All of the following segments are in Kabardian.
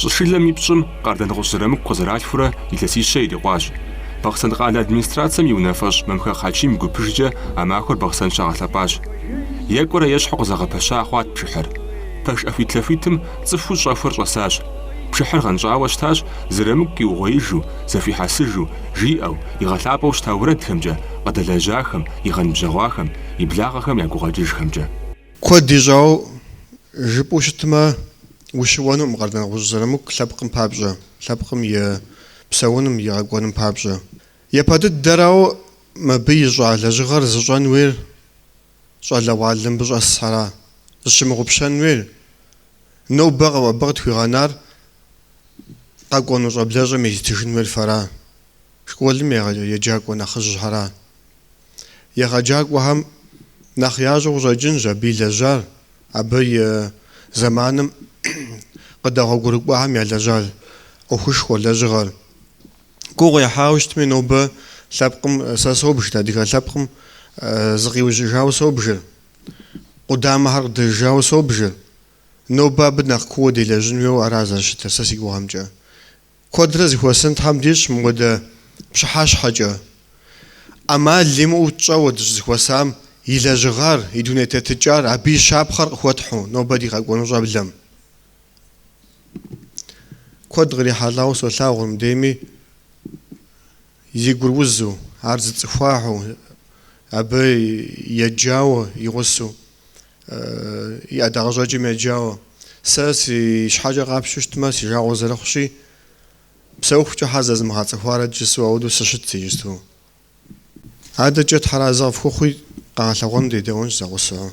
Щӏышылэм и пщӏым Къардэнгъущӏ Зырамыку къызэралъхурэ илъэсищэ ирикъуащ. Бахъсэн къалэ администрацэм и унафэщӏ Мамхэгъ Хьэчим гупыжкӏэ а махуэр Бахъсэн щагъэлъэпӏащ. Екӏуэрэ ещхьу къызэгъэпэща хъуат пшыхьыр. Пэш ӏэхуитлъэхуитым цӏыхуу щӏэхуэр щӏэсащ. Пшыхьыр гъэнщӏауэ щытащ Зырамыку къиугъуеижу, зэхуихьэсыжу, жиӏэу, игъэлъапӏэу щыта уэрэдхэмкӏэ, къыдэлэжьахэм, игъэнбжьэгъуахэм, и благъэхэм я гукъэкӏыжхэмкӏэ. Куэд ищӏауэ жыпӏэу щытмэ, Ущыуэнукъым Къардэнгъущӏ Зырамыку лъэпкъым папщӏэ, лъэпкъым и псэуным, и къэкӏуэным папщӏэ. Япэ дыдэрауэ мыбы ищӏа лэжьыгъэр зыщӏэн уейр щӏалэгъуалэ мыбы щӏэсхьэра? Зыщымыгъупщэн уейр? Нобэ абы къытхуигъэнар къэкӏуэну щӏэблэщӏэм езытыжын уейр фэра? Школым еджакӏуэ нэхъыжьхьэра? Егъэджакӏуэхэм нэхъ ящӏэу къыщӏэкӏынщ абы илэжьар. Абы и зэманым къыдэгъуэгурыкӏуахэм ялэжьа ӏуэхушхуэр, лэжьыгъэр. Гугъу ехьауэ щытми, нобэ лъэпкъым сэ собж, адыгэ лъэпкъым зыкъиужьыжауэ собжыр, къудамэхэр къыдэжыжауэ собжыр. Нобэ абы нэхъ кууэ делэжьын хуейуэ ара зэрыщытыр, сэ си гугъэмкӏэ. Куэдрэ зыхуэсын Тхьэм дищӏ мыуэдэ пщыхьэщхьэкӏэ. ӏэмал имыӏэу тщӏэуэ дыщӏызыхуэсам и лэжьыгъэр, и дуней тетыкӏар, абы и щапхъэр къыхуэтхьу нобэ ди къэкӏуэну щӏэблэм. Куэд кърихьэлӏауэ солъагъу мыбдейми. Зи гур узу, ар зыцӏыхуахэу, абы еджауэ и гъусу, и ӏэдакъэщӏэкӏым еджауэ. Сэ си щхьэкӏэ къапщтэу щытмэ, си жагъуэ зэрыхъущи, псэухукӏэ щхьэ зэзмыгъэцӏыхуарэт жысӏэу ауэду сыщытщ иджысту. Адэкӏэ Тхьэр арэзы къыфхухъуи, къэгъэлъэгъуэным дедэӏуэнщ зэгъусэу.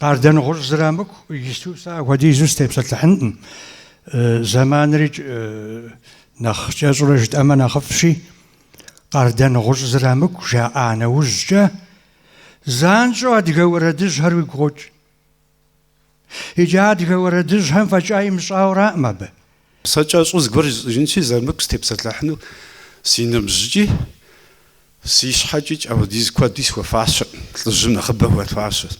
Къардэнгъущӏ Зырамыку иджысту сэ ахуэдизу сытепсэлъыхьынкъым. Зэманри нэхъ кӏэщӏурэ жытӏэмэ нэхъыфӏщи, Къардэнгъущӏ Зырамыку жаӏа нэужькӏэ, занщӏэу адыгэ уэрэдыжьхэр уигу къокӏ. Иджы адыгэ уэрэдыжьхэм фӏэкӏа имыщӏауэраӏым абы. Сэ кӏэщӏу зыгуэр жысӏэжынщи, Зырамыку сытепсэлъыхьыну си ныбжьыкӏи, си щхьэкӏикӏ апхуэдиз куэди схуэфащэркъым, лӏыжьым нэхъыбэ хуэфащэщ.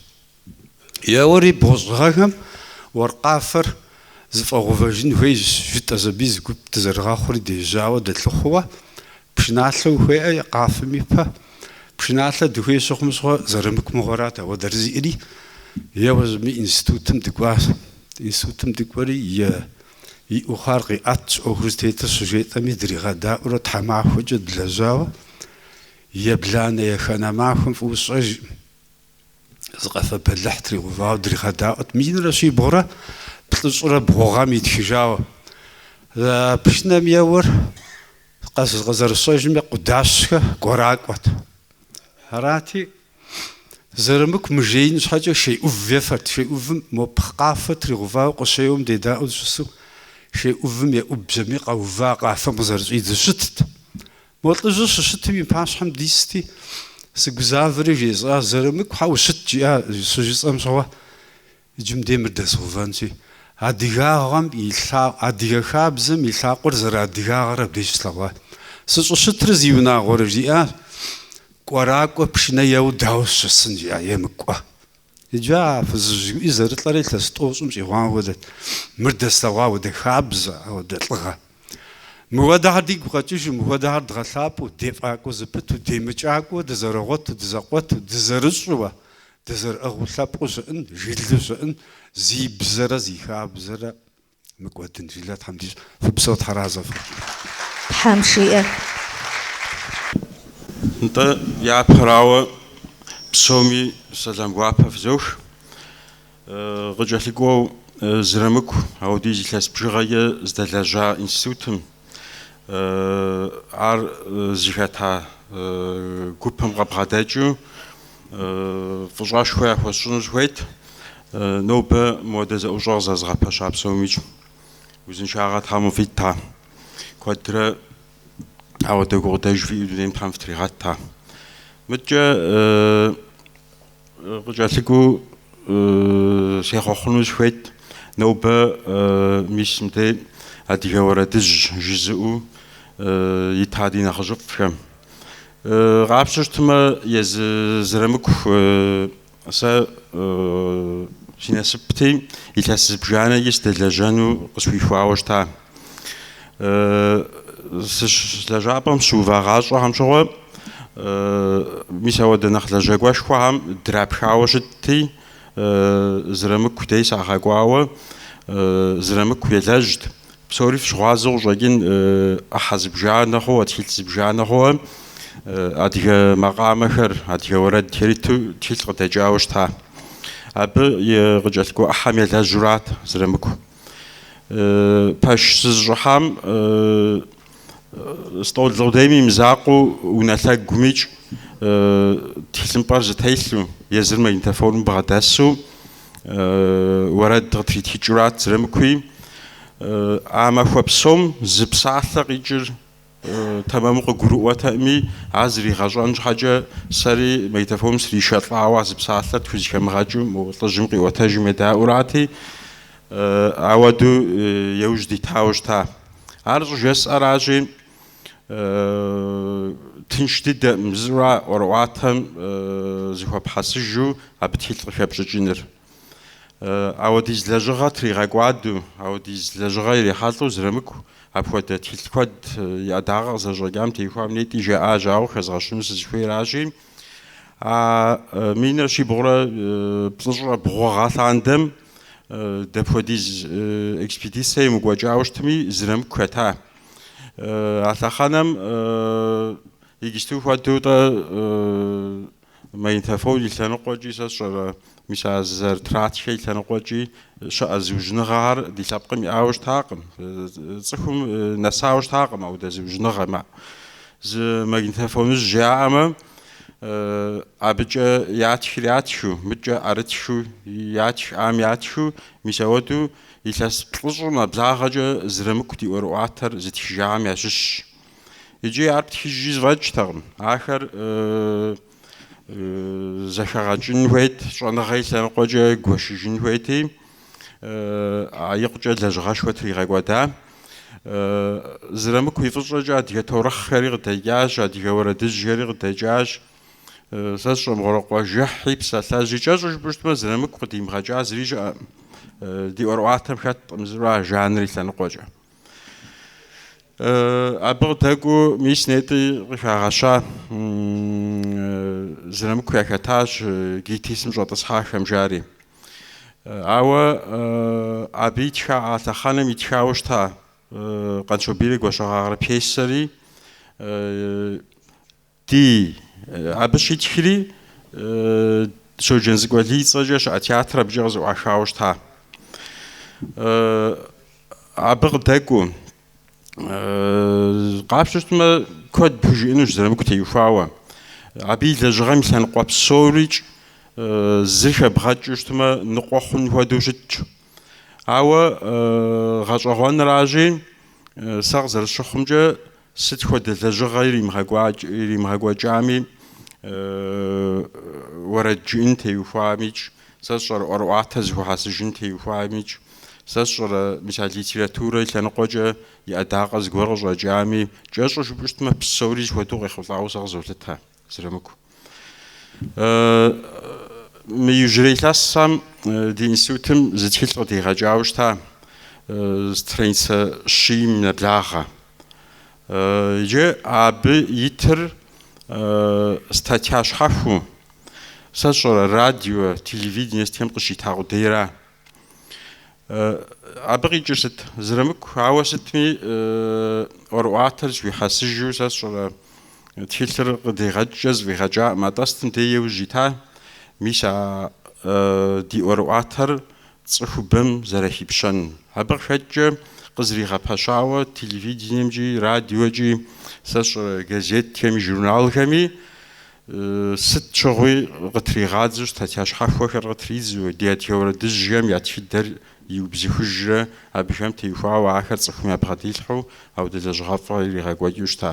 Еуэри бгъущӏ гъэхэм уэркъ къафэр зыфӏэгъэувэжын хуейщ, жытӏэщ аби зы гуп дызэрыгъэхъури дежьауэ дэлъыхъууэ, Пшыналъэ ухуеӏэ къафэм ипэ? Пшыналъэ дыхуей щыхъум щыгъуэ Зырамыку мыгъуэрат ауэдэр зиӏэри. Еуэ щӏыми институтым дыкӏуащ. Институтым дыкӏуэри е иӏэу хъуар къиӏэтщ, ӏуэхур зытетыр щыжетӏэми дригъэдаӏуэурэ тхьэмахуэкӏэ длэжьауэ ебланэ еханэ махуэм фӏыуэ сщӏэжкъым. Зы къэфэ бэлыхь тригъэувауэ дригъэдаӏуэт минрэ щибгъурэ плӏыщӏрэ бгъу гъэм итхыжауэ. Пшынэм еуэр. Къызэрысщӏэжымкӏэ, Къудащхэ Гуэракӏуэт. Арати, Зырамыку мыжеин щхьэкӏэ шей ӏув ефэрт. Шей ӏувым мо къафэ тригъэувауэ къыщеуэм дедаӏуэу дыщысу, шей ӏувым еӏубжьэми къэува, къафэм къызэрыщӏидзэу щытт. Мо лӏыжьыр щыщытым и пащхьэм дисти, сыгузавэри жесӏащ, Зырамыку хьэ ущыт, жиӏащ, щыжысӏэм щыгъуэ, Иджы мыдей мыр дэзгъэувэнщи, адыгагъэм и лъа, адыгэ хабзэм и лъакъуэр зэрыадыгагъэр абдеж слъэгъуа. Сыщӏыщытыр зиунагъуэрэ жиӏа, Кӏуэракӏуэ пшынэ еуэ дауэ сыщысын жиӏа, емыкӏуэ. Иджы а фызыжь цӏыкӏури зэрылӏэрэ илъэс тӏощӏым щӏигъуам хуэдэт, мыр дэслъэгъуа ауэдэ хабзэ, ауэдэ лӏыгъэ. Мыхуэдэхэр дигу къэкӏыжу, мыхуэдэхэр дгъэлъапӏэу, дефӏакӏуэ зэпыту, демыкӏакӏуэу, дызэрыгъуэту, дызэкъуэту, дызэрыщӏэу, Дызэрыӏыгъыу лъэпкъыу щыӏын, жылэу щыӏын, зи бзэрэ зи хабзэрэ мыкӏуэдын жылэ Тхьэм дищӏ, фыпсэу тхьэразэ фыхъу. Тхьэм жиӏэ. Нтӏэ, япэрауэ, псоми сэлам гуапэ фызох. Къыкӏэлъыкӏуэу Зырамыку ауэдиз илъэс бжыгъэкӏэ здэлэжьа институтым Ар зыхэта гупым къэбгъэдэкӏыу фӏыщӏэшхуэ яхуэсщӏыну сыхуейт. Нобэ мыуэдэ зэӏущӏэ къызэзыгъэпэща псомикӏ узыншагъэ Тхьэм къывит, а. Куэдрэ ауэдэ гукъыдэж фиӏэу дунейм Тхьэм фытригъэт, а. Мыдкӏэ Къыкӏэлъыкӏуэу сехъуэхъуну сыхуейт, нобэ мис мыдей адыгэ уэрэдыжь жызыӏэу ита ди нэхъыжьыфӏхэм. Къапщтэу щытмэ, езы Зырамыку сэ си насыпти, илъэс зыбжанэкӏи сыдэлэжьэну къысхуихуауэ щыта. Сыщ лэжьапӏэм сыувагъащӏэхэм щыгъуэ, мис ауэдэ нэхъ лэжьакӏуэшхуэхэм драпхауэ щытти, Зырамыку дей сагъэкӏуауэ, Зырамыку елэжьт. Псори фщыгъуазэу къыщӏэкӏын, ӏыхьэ зыбжанэ хъууэ, тхылъ зыбжанэ хъууэ, адыгэ макъамэхэр, адыгэ уэрэдхэр иту тхылъ къыдэкӏауэ щыта. Абы и къыкӏэлъыкӏуэ ӏыхьэм елэжьурат Зырамыку. Пэш сызыщӏыхьам стӏол къудейм и мызакъуэу унэлъэгумикӏ тхылъымпӏэр зытелъу, езыр магнитофоным бгъэдэсу уэрэд къытритхыкӏыурат Зырамыкуи. А махуэ псом зы псалъэ къикӏыр Тэмэму къыгурыӏуэтэкъыми, ар зригъэщӏэн щхьэкӏэ сэри магнитофоным сришэлӏауэ а зы псалъэр тхузыхэмыгъэкӏым, мо лӏыжьым къиӏуэтэжым едаӏуэурати, ауэду еужь дитауэ щыта. Ар щӏыжысӏэращи, тынш дыдэкъым зыр а ӏуэрыӏуатэм зыхуэпхьэсыжу абы тхылъ къыхэпщӏыкӏыныр. Ауэдиз лэжьыгъэ тригъэкӏуадэу, ауэдиз лэжьыгъэ ирихьэлӏэу Зырамыку апхуэдэ тхылъ куэд и ӏэдагъэ къызэщӏэкӏам теухуам нетӏи жаӏащ, ауэ хэзгъэщыну сызыхуейращи, а минрэ щибгъурэ плӏыщӏрэ бгъу гъэ лъандэм дапхуэдиз экспедицэ емыкӏуэкӏауэ щытми Зырамыку хэта. А лъэхъэнэм иджысту хуэдэу-тӏэ Магнитофон и лъэныкъуэкӏи сэ сщӏэрэ, мис а зэрытратхэ и лъэныкъуэкӏи щыӏэ зыужьыныгъэхэр ди лъэпкъым иӏауэ щытакъым. Цӏыхум нэсауэ щытакъым аудэ зыужьыныгъэм. Зы магнитофоныжь яӏэмэ, абыкӏэ ятхыр ятхыу, мыкӏэ ӏэрытхыу ятхам ятхыу, мис ауэду илъэс плӏыщӏым нэблагъэкӏэ Зырамыку ди ӏуэрыӏуатэр зытхыжахэм ящыщщ. Икӏи ар птхыжкӏи зэфӏэкӏтэкъым. Ахэр зэхэгъэкӏын хуейт, щӏэныгъэ и лъэныкъуэкӏэ гуэшыжын хуейти, а икъукӏэ лэжьыгъэшхуэ тригъэкӏуэда. Зырамыку и фӏыщӏэкӏэ адыгэ таурыхъхэри къыдэкӏащ, адыгэ уэрэдыжьхэри къыдэкӏащ. Сэ сщӏэ мыгъуэрэ, къуажэхьи, псалъэжьи кӏэщӏу жыпӏэу щытмэ, Зырамыку къыдимыгъэкӏа зыри щыӏэкъым. Ди ӏуэрыӏуатэм хэткъым зыри а жанр и лъэныкъуэкӏэ. Абы къыдэкӏуэу мис нетӏи къыхагъэща Зырамыку яхэтащ ГИТИС-ым щӏэтӏысхьахэм жаӏэри. Ауэ абы итха а лъэхъэнэм итхауэ щыта Къанщобийрэ Гуащэгъагърэ пьесэри Ди абы щитхри Щоджэнцӏыкӏу Алий и цӏэкӏэ щыӏэ театрыр абыкӏэ къызэӏуахауэ щыта. Абы къыдэкӏуэу къапщтэу щытмэ, куэд пхужиӏэнущ Зырамыку теухуауэ. Абы и лэжьыгъэм и лъэныкъуэ псорикӏ зы хэбгъэкӏыу щытмэ, ныкъуэ хъун хуэдэу щытщ. Ауэ гъэщӏэгъуэнращи, сэ къызэрысщыхъумкӏэ, Сыт хуэдэ лэжьыгъэ иримыгъэкӏуэкӏами, уэрэд жыӏын теухуамикӏ, сэ сщӏэрэ ӏуэрыӏуатэ зэхуэхьэсыжын теухуамикӏ, сэ сщӏэрэ мисал литературэ лъэныкъуэкӏэ и ӏэдакъэ зыгуэр къыщӏэкӏами, кӏэщӏу жыпӏэу щытмэ, псори зэхуэдэу къехъулӏауэ сэ къызолъытэ. Зырамыку. Мы иужьрей илъэсхэм ди институтым зы тхылъ къыдигъэкӏауэ щыта страницэ щийм нэблагъэ. Иджы абы итыр статья щхьэхуэу, сэ сщӏэрэ, радио, телевидение сытхэм къыщита къудейра. Абы къикӏыр сыт? Зырамыку, ауэ сытми ӏуэрыӏуатэр зэхуихьэсыжу сэ сщӏэрэ тхылъыр къыдигъэкӏкӏэ зэфӏигъэкӏакъым, атӏэ сытым дей иужь ита мис а ди ӏуэрыӏуатэр цӏыхубэм зэрахипщэн. Абы къыхэкӏкӏэ къызэригъэпэщауэ телевидениемкӏи, радиокӏи, сэ сщӏэрэ газетхэми, журналхэми Сыт щыгъуи къытригъадзэу статья щхьэхуэхэр къытридзэу, ди адыгэ уэрэдыжьхэм я тхыдэр иубзыхужурэ, абыхэм теухуауэ ахэр цӏыхум ябгъэдилъхьэу аудэ лэжьыгъэфӏ иригъэкӏуэкӏыу щыта.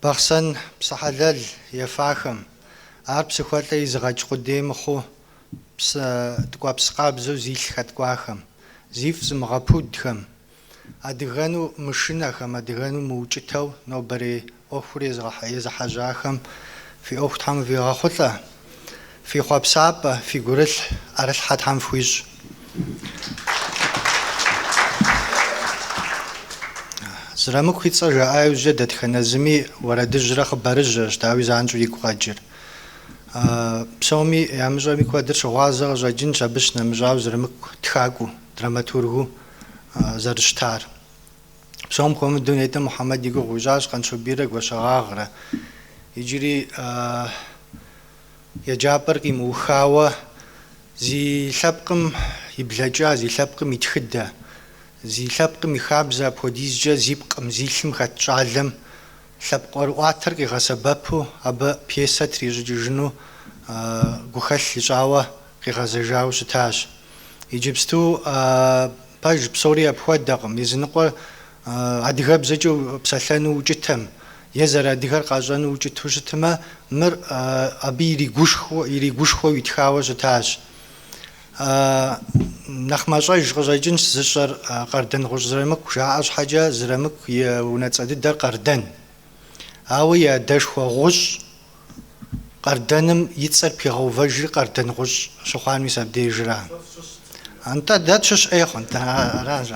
Бахъсэн псы хьэлэл ефахэм, ар псыхуэлӏэ изыгъэкӏ къудей мыхъуу псы ткӏуэпс къабзэу зилъ хэткӏуахэм, зифӏ зымыгъэпудхэм, адыгэну мышынэхэм, адыгэну мыукӏытэу нобэрей ӏуэхур езыхьэжьахэм фи ӏуэху Тхьэм къывигъэхъулӏэ. Фи хъуэпсапӏэ, фи гурылъ ӏэрылъхьэ Тхьэм фхуищӏ. Зырамыку и цӏэ жаӏа иужькӏэ дэтхэнэ зыми уэрэдыжьрэ хъыбарыжьрэщ, дауи, занщӏэу игу къэкӏыр. Псоми ямыщӏэми куэдыр щыгъуазэ къыщӏэкӏынщ абы щынэмыщӏауэ Зырамыку тхакӏуэу, драматургыу зэрыщытар. Псом хуэмыдэу нетӏэ Мухьэмэд и гугъу ищӏащ Къанщобийрэ Гуащэгъагърэ. Иджыри еджапӏэр къимыухауэ зи лъэпкъым и блэкӏа, зи лъэпкъым и тхыдэ, зи лъэпкъым и хабзэ апхуэдизкӏэ зи пкъым, зи лъым хэт щӏалэм лъэпкъ ӏуэрыӏуатэр къигъэсэбэпу абы пьесэ трищӏыкӏыжыну гухэлъ ищӏауэ къигъэзэжауэ щытащ. Иджыпсту, пэж, псори апхуэдэкъым, языныкъуэр адыгэбзэкӏэ псэлъэну укӏытэм е зэрыадыгэр къащӏэну укӏыту щытмэ, мыр абы иригушхуэу итхауэ щытащ. Нэхъ мащӏэж къыщӏэкӏынщ зыщӏэр Къардэнгъущӏ Зырамыку жаӏэ щхьэкӏэ, Зырамыку и унэцӏэ дыдэр Къардэн, ауэ и адэшхуэ Гъущӏ. Къардэным и цӏэр пигъэувэжри Къардэнгъущӏ щыхъуар мис абдежра? Нтӏэ, дэ тщыщ ӏей хъунт, аращ.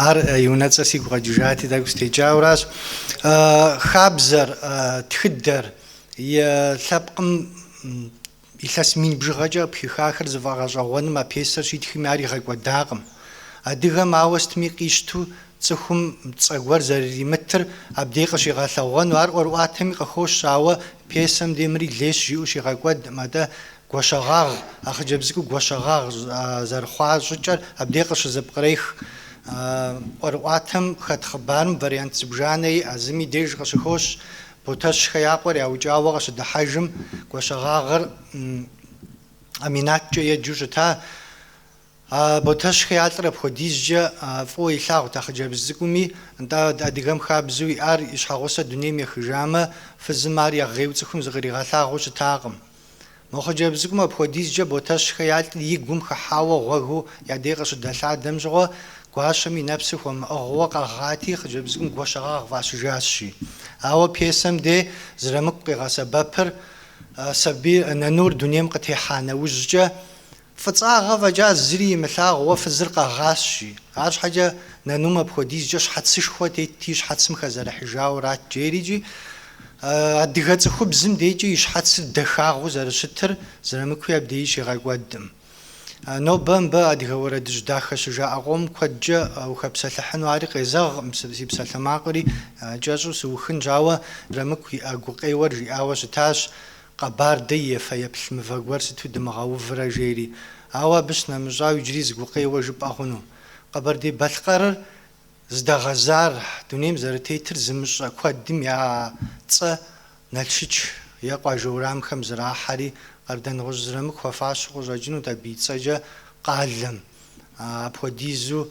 Ар и унэцӏэр сигу къэкӏыжати, тӏэкӏу сытекӏауэращ. Хабзэр, тхыдэр и лъэпкъым Илъэс мин бжыгъэкӏэ пхихахэр зыфӏэгъэщӏэгъуэным а пьесэр щитхми ар игъэкӏуэдакъым. Адыгэм ауэ сытми къищту цӏыхум цӏэ гуэр зэрыримытыр абдей къыщигъэлъэгъуэну ар ӏуэрыӏуатэми къыхощ, ауэ пьесэм демри лейщ жиӏэу щигъэкӏуэдкъым, атӏэ Гуащэгъагъ, а хъыджэбз цӏыкӏур Гуащэгъагъ зэрыхъуа щӏыкӏэр абдей къыщызыпкърех. ӏуэрыӏуатэм хэт хъыбарым вариант зыбжанэ иӏэ, зым и деж къыщыхощ, Ботэщхэ я къуэр яукӏауэ къыщыдыхьэжым, Гуащэгъагъыр Аминаткӏэ еджэу щыта. А Ботэщхэ я лӏыр апхуэдизкӏэ фӏыуэ илъагъут а хъыджэбз цӏыкӏуми. Нтӏэ, адыгэм хабзэу иӏар и щхьэгъусэ дунейм ехыжамэ, фызым ар игъейуэ цӏыхум зыкъригъэлъагъуу щытакъым. Мо хъыджэбз цӏыкӏум апхуэдизкӏэ Ботэщхэ я лӏыр и гум хыхьауэ гъуэгыу я дей къыщыдэлъадэм щыгъуэ, гуащэм и нэпсыр хуэмыӏыгъыу къэгъати, хъыджэбз цӏыкӏум Гуащэгъагъ фӏащыжащи. Ауэ пьесэм де Зырамыку къигъэсэбэпыр, сабий нанур дунейм къытехьа нэужькӏэ, Фӏыцӏагъэ фӏэкӏа зыри имылъагъуу фызыр къэгъащи. Арщхьэкӏэ нанум апхуэдизкӏэ щхьэцышхуэ тетти щхьэцым хэзэрыхьыжауэрат жери икӏи адыгэ цӏыхубзым декӏи и щхьэцыр дахагъэу зэрыщытыр Зырамыкуи абдеи щигъэкӏуэдкъым. Нобэ мыбы адыгэ уэрэдыжь дахэ щыжаӏэ къом куэдкӏэ ухэпсэлъыхьыну ари къезэгъкъым, си псалъэмакъыри кӏэщӏу сыухынщ, ауэ Зырамыку иӏэ гукъеуэр жиӏауэ щытащ, Къэбардэ и фэеплъ мывэ гуэр сыту дымыгъэуврэ жери, ауэ абы щынэмыщӏауэ иджыри зы гукъеуэ жыпӏэ хъуну. Къэбэрдей-Балъкъэрыр здэгъэзар, дунейм зэрытетыр зымыщӏэ куэдым я цӏэ Налшыч е къуажэ урамхэм зрахьэри, Къардэнгъущӏ Зырамыку хуэфащэу къыщӏэкӏынут абы и цӏэкӏэ къалэм. Апхуэдизу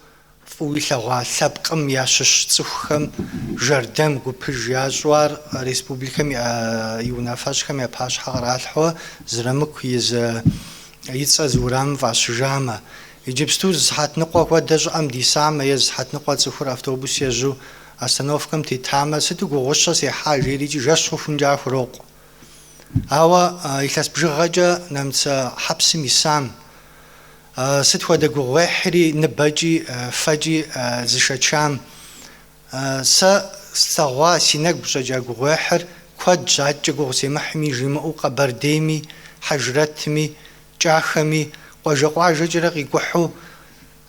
Фӏыуэ илъэгъуа лъэпкъым ящыщ цӏыхухэм жэрдэм гупыж ящӏу ар республикэм и унафэщӏхэм я пащхьэ къралъхьэу Зырамыку и зы и цӏэ зы урамым фӏащыжамэ. Иджыпсту зы сыхьэт ныкъуэ хуэдэ щӏыӏэм дисамэ е зы сыхьэт ныкъуэ цӏыхур автобус ежьу остановкэм тетамэ, сыту гугъущэ сехьа жери икӏи жэщ хъухункӏэ яхурокъу. Ауэ илъэс бжыгъэкӏэ нэмыцэ хьэпсым исам сыт хуэдэ гугъуехьри ныбэкӏи фэкӏи зышэчам, сэ слъэгъуа си нэгу щӏэкӏа гугъуехьыр куэдщ, адэкӏэ гугъу семыхьми жимыӏэу Къэбэрдейми, Хьэжрэтми, Кӏахэми къуажэ-къуажэкӏэрэ къикӏухьу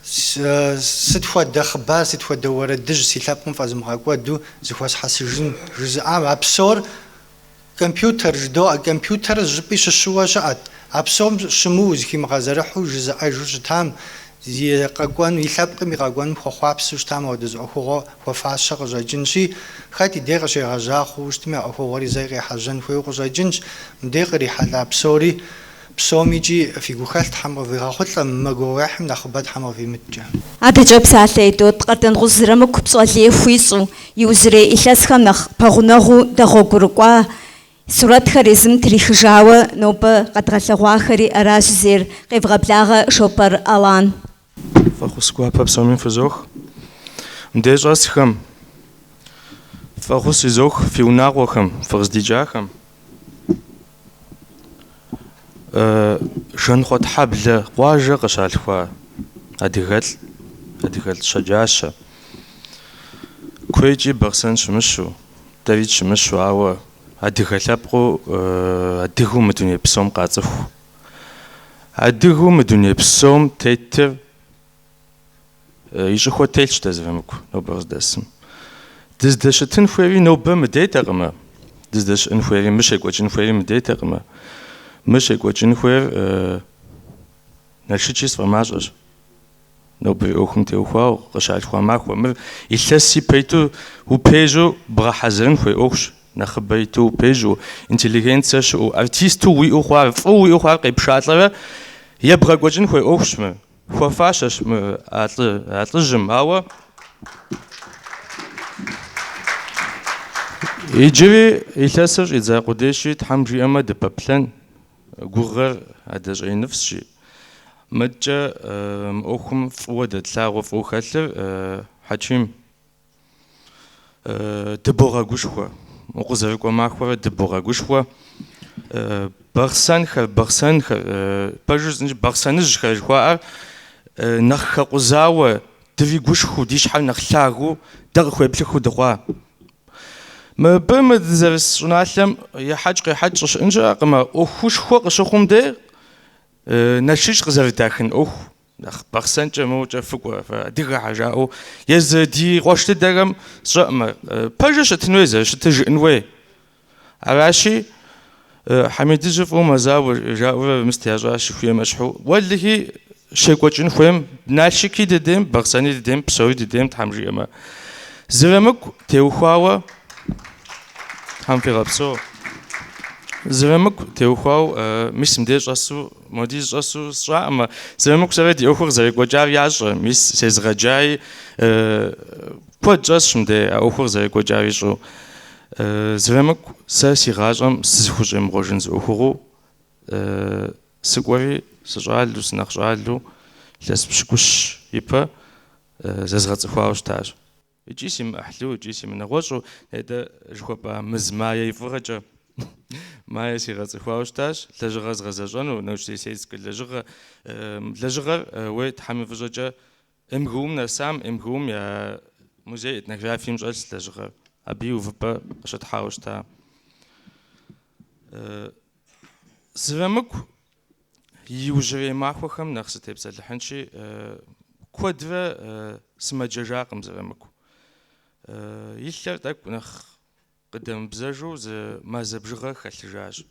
Сыт хуэдэ хъыбар, сыт хуэдэ уэрэдыжь си лъэпкъым фӏэзымыгъэкӏуэду зыхуэсхьэсыжын? жызыӏам, а псор компьютер жыдоӏэ, компьютер жыпӏи щыщыуэ щыӏэт. А псом щымыуэу зэхимыгъэзэрыхьу жызыӏэжу щытам, и къэкӏуэн, и лъэпкъым и къэкӏуэным хуэхъуапсэу щытам апхуэдэ зы ӏуэхугъуэ хуэфащэ къыщӏэкӏынщи, хэт и дей къыщегъэжьа хъууэ щытми, а ӏуэхугъуэри зэи къехьэжьэн хуейуэ къыщӏэкӏынщ, мыдей кърихьэлӏа псори Псоми икӏи фи гухэлъ Тхьэм къывигъэхъулӏэ, мы гугъуехьым нэхъыбэ Тхьэм къывимыткӏэ. Адэкӏэ псалъэ идот Къардэнгъущӏ Зырамыку пщӏэ лей хуищӏу, иужьрей илъэсхэм нэхъ пэгъунэгъуу дэгъуэгурыкӏуа сурэтхэр езым трихыжауэ нобэ къэдгъэлъэгъуахэри аращ, зейр къевгъэблагъэ Шопэр Алан. Фӏэхъус гуапэ псоми фызох. Мыдей щӏэсхэм, фӏэхъус язох фи унагъуэхэм, фыкъыздикӏахэм. Жанхъуэтхьэблэ къуажэ къыщалъхуа адыгэлӏ, адыгэлӏ щэджащэ. Куейкӏи Бахъсэн щымыщу, Давид щымыщу, ауэ адыгэ лъэпкъыу, адыгэу мы дуней псом къацӏыху Адыгэу мы дуней псом тетыр и щӏыхуэ телъщ дэ Зырамыку нобэ къыздэсым. Дыздэщытын хуейри нобэ мыдейтэкъымэ, дыздэщыӏэн хуейри, мы щекӏуэкӏын хуейри мыдейтэкъымэ. Мы щекӏуэкӏын хуейр Налшычи сфӏэмащӏэщ. Нобэрей ӏуэхум теухуауэ къыщалъхуа махуэ мыр илъэс ипэ иту упежьу бгъэхьэзырын хуей ӏуэхущ, нэхъыбэ иту упежьу, интеллигенцэ щыӏэу, артисту уиӏэу хъуар, фӏыуэ уиӏэу хъуар къепшалӏэрэ ебгъэкӏуэкӏын хуей ӏуэхущ мыр. Хуэфащэщ мы а лӏыжьым, ауэ иджыри илъэсыр щӏидза къудейщи, Тхьэм жиӏэмэ дыпэплъэн, Гугъэр адэ щӏэиныфӏщи, мыдкӏэ мы ӏуэхум фӏыуэ дэтлъагъуэ фӏыуэ хэлъыр Хьэчим. Дыбогъэгушхуэ, укъызэрыкӏуэ махуэрэ дыбогъэгушхуэ. Бахъсэнхэр, бахъсэнхэр, пэжыр зынщ бахъсэныжьхэр жыхуаӏэр нэхъ хэкъузауэ, дыригушхыу, ди щхьэр нэхъ лъагу дэ къыхуеплъыхыу дыхъуа? Мыбы мы дызэрыс щӏыналъэм ехьэкӏ-къехьэкӏ щӏыщыӏын щыӏэкъым, а ӏуэхушхуэ къыщыхъум де нэшыж къызэрыдахын ӏуэху нэхъ бахъсэнкӏэ мыукӏэ фыкӏуэ, адыгэхьэ жаӏэу езы ди къуэш дыдэхэм сщӏэӏымэ, пэжыр щытын хуей зэрыщытыр жыӏын хуей. Аращи, Хьэмидыжьы фӏыуэ мэзауэ, жаӏэурэ мыст ящӏащ, жыхуиӏэм ещхьу. Уэлэхи, щекӏуэкӏын хуейм, Налшыки дыдейм, Бахъсэни дыдейм, псори дыдейм, Тхьэм жиӏэмэ. Зырамыку теухуауэ, Тхьэм фигъэпсэу. Зырамыку теухуау, мис мыдей щӏэсу, моди зыщӏэсу сщӏэӏымэ, Зырамыку сэрэ ди ӏуэхур къызэрекӏуэкӏар ящӏэ, мис сезыгъэджаи, куэд щӏэсщ мыдей а ӏуэхур зэрекӏуэкӏар ищӏу. Зырамыку, сэ си гъащӏэм сызыхущӏемыгъуэжын зы ӏуэхугъуу сыкӏуэри, сыщӏалу, сынэхъ щӏалу, лъэс пщыкӏущ ипэ зэзгъэцӏыхуауэ щытащ. Икӏи си мыӏыхьлу, икӏи си мынэгъуэщӏу, нетӏэ жыхуэпӏа мис Майя и фӏыгъэкӏэ, Майя сигъэцӏыхуауэ щытащ, лэжьыгъэр згъэзэщӏэну, научно-исследовательскэ лэжьыгъэ. Лэжьыгъэр, уей, Тхьэм и фӏыщӏэкӏэ, МГУ-м нэсам, МГУ-м я музей этнографием щӏэлъщ лэжьыгъэр, абы и увыпӏэ къыщытхьауэ щыта. Зырамыку иужьрей махуэхэм нэхъ сытепсэлыхьынщи, куэдрэ сымэджэжакъым Зырамыку. И лъэр тӏэкӏу нэхъ къыдэмыбзэжу зы мазэ бжыгъэ хэлъыжащ.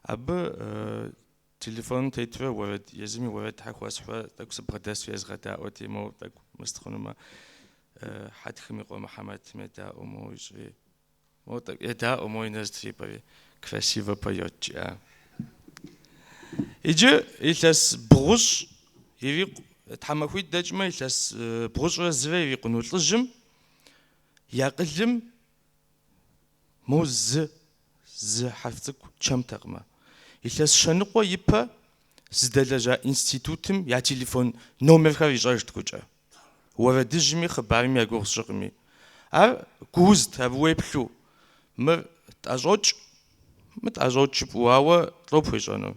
Абы Телефоным тетурэ уэрэд, езыми уэрэдхэр хуэсхьурэ тӏэкӏу сыбгъэдэсу езгъэдаӏуэти, моуэ тӏэкӏу мыст хъунумэ, Хьэтхым и къуэ Мухьэмэтым едаӏуэу моуэ ищӏри, моуэ тӏэкӏу едаӏуэу моуэ и нэр зэтрипӏэри, красиво поет жиӏа. Иджы илъэс бгъущӏ ирикъу тхьэмахуитӏ дэкӏмэ, илъэс бгъущӏрэ зырэ ирикъуну лӏыжьым и акъылым Мо зы, зы хьэрф цӏыкӏу чэмтэкъымэ. Илъэс щэ ныкъуэ ипэ зыдэлэжьа институтым я телефон номерхэр ищӏэжт гукӏэ. Уэрэдыжьми хъыбарми я гугъу сщӏыкъыми. Ар гуузт, абы уеплъу, мыр тӏэщӏокӏ, мыр тӏэщӏокӏ жыпӏэу, ауэ лӏо пхуещӏэну?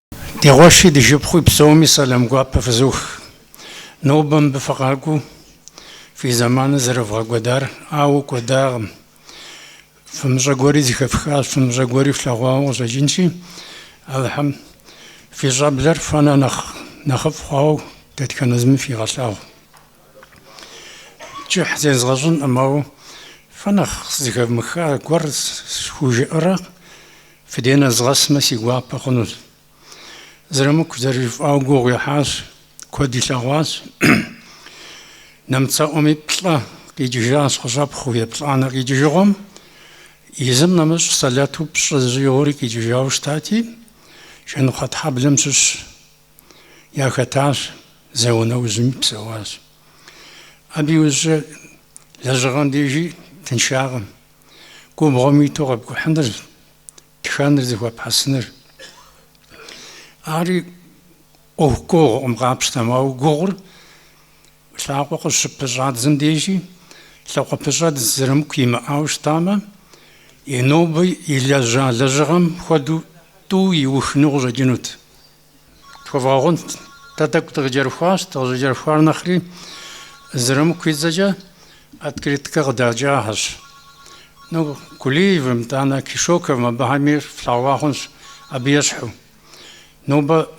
Ди къуэши ди шыпхъуи псоми сэлам гуапэ фызох. Нобэ мыбы фыкъакӏуэу фи зэманыр зэрывгъэкӏуэдар, ауэ кӏуэдакъым. Фымыщӏэ гуэри зыхэфхащ, фымыщӏэ гуэри флъэгъуауэ къыщӏэкӏынщи, Алыхьым фи щӏэблэр фэнэ нэхъ нэхъыфӏ хъуауэ дэтхэнэ зыми фигъэлъагъу. Кӏыхь зезгъэщӏынкъым, ауэ фэ нэхъ зыхэвмыха гуэр схужыӏэрэ Фи деж нэзгъэсмэ, си гуапэ хъунущ. Зырамыку зэрыжыфӏауэ гугъу ихьащ, куэд илъэгъуащ. Нэмыцэ ӏуэми плӏэ къикӏыжащ къыщӏэпхъуэу еплӏанэ къикӏыжыгъуэм. Езым нэмыщӏ сэлэту пщӏы зыщӏигъури къикӏыжауэ щытати, Жанхъуэтхьэблэм щыщ яхэтащ, зауэ нэужьми псэуащ. Абы иужькӏэ лэжьыгъэм дежи тыншакъым. губгъуэм иту къэпкӏухьыныр, тхэныр зыхуэпхьэсыныр. Ари ӏуэху гугъукъым, къапщтэмэ, ауэ гугъур лъакъуэ къыщыпыщӏадзэм дежи лъакъуэпэщӏэдз Зырамыку имыӏауэ щытамэ, и нобэ илэжьа лэжьыгъэм хуэдэу тӏу иухыну къыщӏэкӏынут. Тхуэвгъэгъунт, дэ тӏэкӏу дыкъыкӏэрыхуащ, дыкъыщӏыкӏэрыхуар нэхъри Зырамыку и цӏэкӏэ открыткэ къыдэкӏахэщ. Ну, Кулиевым, итӏанэ Кешоковым абыхэми флъэгъуа хъунщ абы ещхьу. Нобэ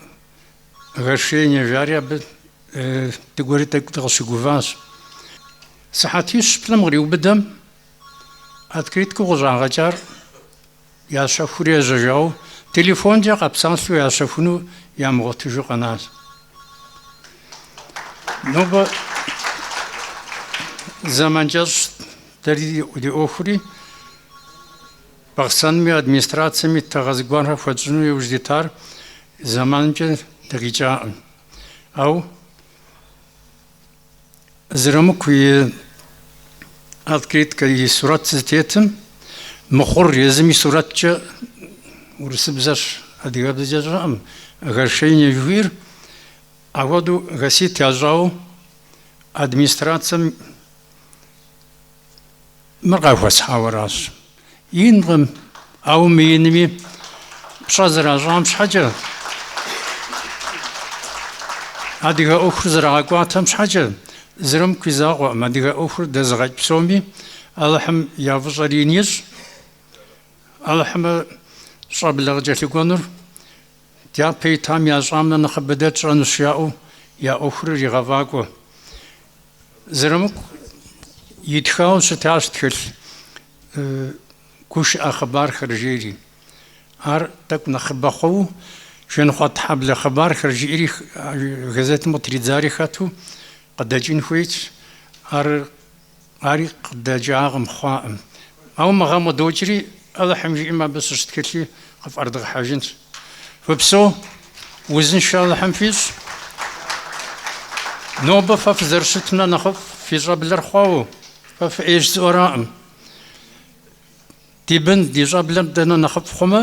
гашение жари абы дыкӏуэри тӏэкӏу дыкъыщыгуващ. Сыхьэтищ-плӏым къриубыдэм открыткэу къыщӏагъэкӏар. Ящэхури ежьэжауэ, телефонкӏэ къэпсалъэу ящэхуну ямыгъуэтыжу къэнащ. Нобэ зэман кӏэщӏщ дэри ди ӏуэхури, Бахъсэнми администрацэми тыгъэ зыгуэрхэр хуэтщӏыну иужь дитар зэманымкӏэ дыкъикӏакъым. Ау Зырамыку и открыткэ и сурэт зытетым мыхъур езым и сурэткӏэ урысыбзэщ, адыгэбзэкӏэ сщӏэркъым, Гашение жыхуиӏэр ахуэдэу Гасит ящӏауэ администрацэм Мыр къахуэсхьауэращ. Инкъым, ауэ мыинми пщӏэ зэращӏам щхьэкӏэ, адыгэ ӏуэхур зэрагъэкӏуатэм щхьэкӏэ, Зырамыку и закъуэкъым, адыгэ ӏуэхур дэзыгъэкӏ псоми Алыхьым я фӏыщӏэр ин ищӏ, Алыхьымэ щӏэблэ къыкӏэлъыкӏуэнур Дяпэ итам ящӏам нэ нэхъыбэ дэ тщӏэнущ жаӏэу я ӏуэхур иригъэфӏакӏуэ. Зырамыку итхауэ щытащ тхылъ гушыӏэ хъыбархэр жери. Ар тӏэкӏу нэхъыбэ хъууэ Жанхъуэтхьэблэ хъыбархэр жиӏэри газетым къытридзари хэту къыдэкӏын хуейт. Ар Ари къыдэкӏакъым, хъуакъым. Ауэ мы гъэм къыдокӏри, Алыхьым жиӏэм абы щыщ тхылъи къыфӏэрыдгъэхьэжынщ. Фыпсэу, узыншэ Алыхьым фищӏ. Нобэ фэ фызэрыщытым нэ нэхъыфӏ фи щӏэблэр хъуауэ, фэ фыӏейщ жысӏэуэракъым. Ди бын, ди щӏэблэр дэ нэ нэхъыфӏ хъумэ,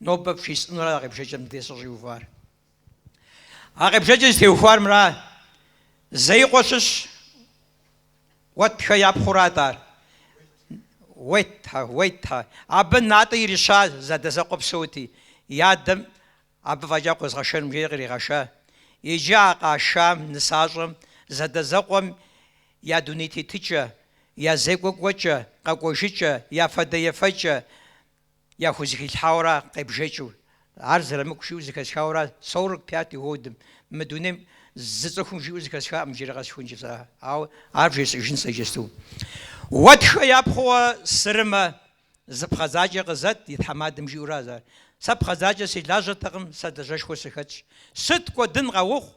Нобэ бжесӏэнура а къебжэкӏыр мыдрей сыщӏиувар? А къебжэкӏыр зытеухуар мыра. Зеикъуэ щыщ Уэтхэ япхъурат ар. Уетхэ, Уетхэ. Абы натӏэ ирища зэадэзэкъуэ псэути, и адэм абы фӏэкӏа къозгъэшэнкъым жери къригъэша. Иджы а къашам, нысащӏэм, зэадэзэкъуэм я дуней тетыкӏэ, я зекӏуэ кӏуэкӏэ, къэкӏуэжыкӏэ, я фадэ ефэкӏэ, Яхузэхилъхьауэра къебжэкӏыу, ар Зырамыку жиӏэу зэхэсхауэра сорок пятый годым, мы дунейм зы цӏыхум жиӏэу зэхэсхакъым иджыри къэсыхункӏэ сэ, ауэ ар бжесӏэжын сэ иджысту. Уэтхэ япхъууэ сырымэ, зы пхъэдзакӏэ къызэт и тхьэмадэм жиӏэуращ ар. Сэ пхъэдзакӏэ си лажьэтэкъым, сэ лажьэшхуэ сыхэтщ. Сыт кӏуэдын къэухъу,